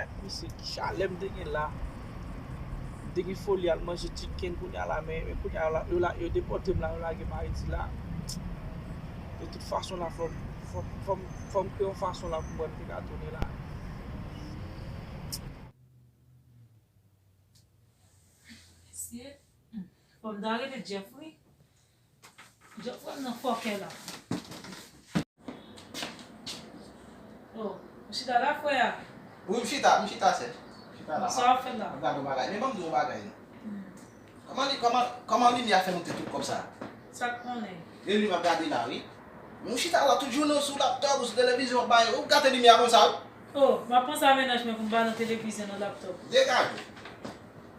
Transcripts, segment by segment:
Gad misye ki chalè m te gen la. M te gen foli al manje chicken kounya la men kounya la yo depòte m la yo lage m Ayiti la. De tout fason la fò m kreye yon fason la pou mwen te ka tounen la. Mesye, fò m ta rele Jeff wi. Jòf pran nan fòkè la. Oh ou chita la frè a? Wi m chita, m chita sè. Sa wap fè la? Map gade yon bagay. Men banm di w yon bagay non. Kòman li kòman kòman limyè a fè monte tout kòb sa a? Sak konnen. E li map gade la wi. Men ou chita la tout jounen ou sou laptòp ou sou televizyon wap bay ou gate limyè a konsa wi. Oh map panse a mennaj mwen pou m ba nan televizyon nan laptòp. Degaje.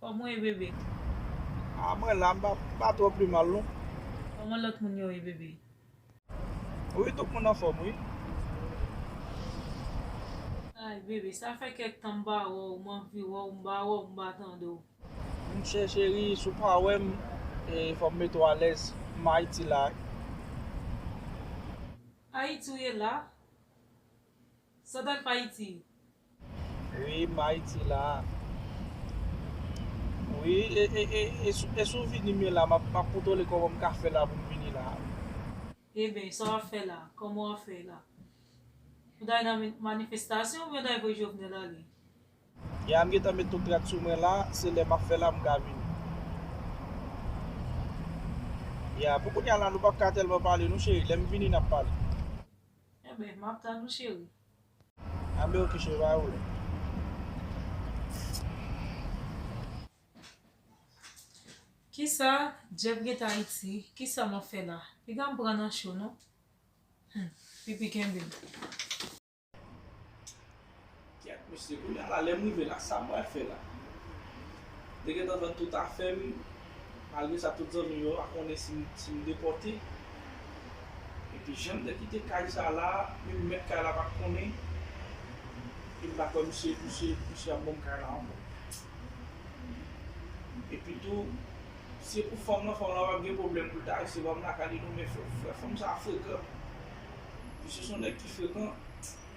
Koman w ye bebe? Ah mwen la m pa twò pi mal non. Koman lòt moun yo ye bebe? Wi tout moun anfòm wi. Ay bebe sa fè kèk tan m pa wè w m anvi wè w m pa wè w m pa tande w. M chè cheri si w pa wè m fò m mete w alèz m Ayiti la. Ayiti w ye la? Santan m ayiti. Wi m ayiti la. Wi e sou vini me la map kontole koman m ka fè la pou m vini la. Eben sa wap fè la koman wap fè la. Ou ta nan manifestasyon oubyen ou ta voye jovenel ale. Ya m gentan met tout rad sou mwen la se lè map fè la m ka vini. Ya pou kounya la nou pap ka telman pale non cheri lèm vini nap pale. Enben, m ap tann ou cheri. Anben ok cheri, pa gen pwoblèm. Kisa Jeff gen Tahiti? Kisa m ap fè la? Piga m pran nan cho non. Hum! Pipi kenbe m. Kyèt mesye, kounya la lèm rive la sa mwen fè la? M te gentan vann tout afèm, malgre sa tout zanmim yo pa konnen sim depòte. Epi janm te kite kay sa la, menm mèt kay la pat konnen, e m pa kwè misye ap banm kay la ankò. Epi tou, si e pou fanm lan, fanm lan pap gen pwoblèm poul ta resevwa m lakay li non men frè fanm sa frekan. Misye son nèg ki frekan.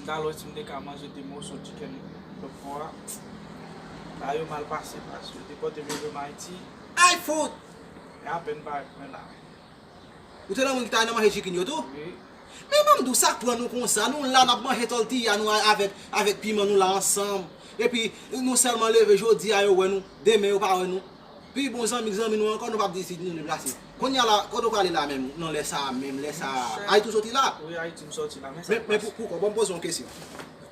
M tal wè si m te ka manje 2 moso chicken lòtfò a. Sa yo mal pase paske yo te pote m rive m Ayiti. Ay fout! E apèn m parèt mwen la. Ou te nan moun ki ta nan manje chicken yo tou? Wi. Men banm di w sak pran nou konsa, nou la nap manje tortilla nou avèk avèk piman nou la ansanm epi nou sèlman leve jodi a yo wè nou, demen yo pa wè nou. Pi bon zanmi k zanmi nou ankò nou pap di si nou deplase Kounya la kote w prale la menm nan lè sa a menm lè sa a Ayiti w soti la? Wi Ayiti m soti la men sa k pase Men poukò bon m poze w yon kesyon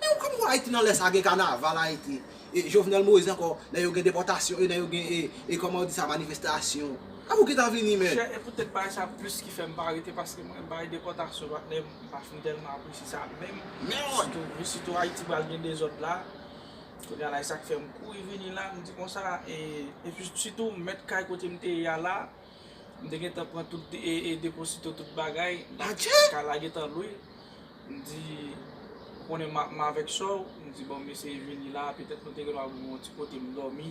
Men ou kòman w wè Ayiti nan lè sa a gen kanaval Ayiti e Jovenel Moïse ankò lè yo gen depòtasyon e lè yo gen e kòman yo di sa manifestasyon Avè w ki ta vini men Chè e poutèt bagay sa plis ki fè m pa rete paske mwen bagay depòtasyon patnè m pa fin tèlman apresye sa menm sitou sitou Ayiti pral gen dezòd la. Kounye a la e sa k fè m kouri vini la, m di konsa e pi sitou mèt kay kote m te ye a la, m te gentan pran tout deposito tout bagay, kay la gentan lwe, m di ou konnen m avèk sò w, m di bon m eseye vini la petèt nou te gen dwa pou m yon ti kote m dòmi.